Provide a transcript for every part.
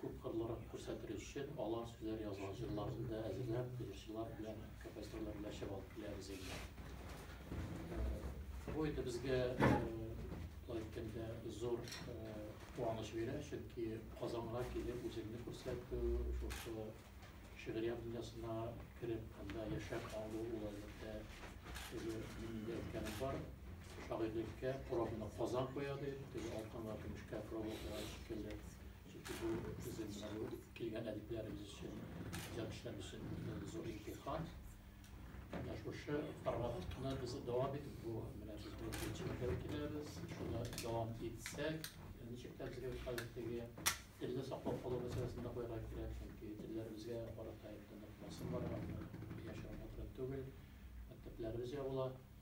Күпкырлырак күрсәтер өчен, алар сүзләр язган җырларны да әзерләп, җырчылар белән һәм композиторлар белән чәбә алып киләбез инде. Бу инде безгә, болай әйткәндә, зур куаныч бирә, чөнки Казанга килеп, үзеңне күрсәтү, шушы шигърият дөньясына кереп, анда яшәп калу, ул, әлбәттә, теге мин инде әйткәнем бар, шагыйрьлеккә пробаны Казан куя, дип, теге алтынга, көмешкә проба куйган шикелле. Чөнки бу безнең менә бу килгән әдипләребез өчен, иҗатчылар өчен зур имтихан. Менә шушы форматны без дәвам итеп бу менә без бу җитәкчеләргә киләбез. Шуны дәвам итсәк, ничек тә безгә хәзер теге телне саклап калу мәсьәләсен дә куярга кирәк, чөнки телләребезгә карата инде нык басым бар, аны яшереп утырып түгел, мәктәпләребез ябыла.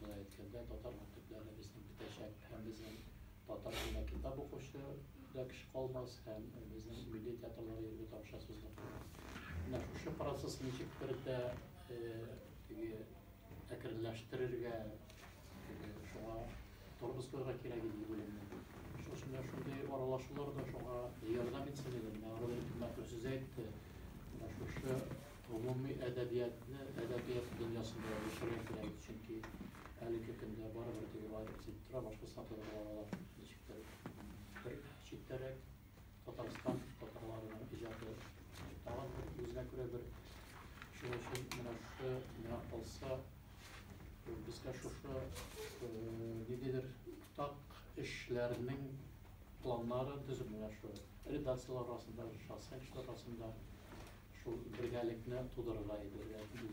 Болай әйткәндә, татар мәктәпләре безнең бетәчәк һәм безнең татар телендә китап укучы да кеше калмас һәм безнең милли театрлар йөрергә дә акчасыз да калмас. Менә шушы процесс ничек бер дә теге әкренләштерергә, теге шуңа торып эшләргә кирәк иде дип уйлыйм мин. Шуның өчен менә шундый аралашулар да шуңа ярдәм итсен иде. Менә Равил Хикмәтов сүз әйтте, менә шушы Гомуми әдәбиятны әдәбият дөньясында яшерә кирәк, чөнки әлеге көндә барыбер теге аерып сизеп тора, башка сатылырга алар ничектер бер читтәрәк. Татарстан татарларының иҗаты тагын бер үзенә күрә бер. Шуның өчен менә шушы миңа калса, безгә шушы ниндидер уртак эшләрнең планнарын төзеп менә шул. редакцияләр арасында, шәхси кешеләр арасында шул бергәлекне тудырырга әйберләр.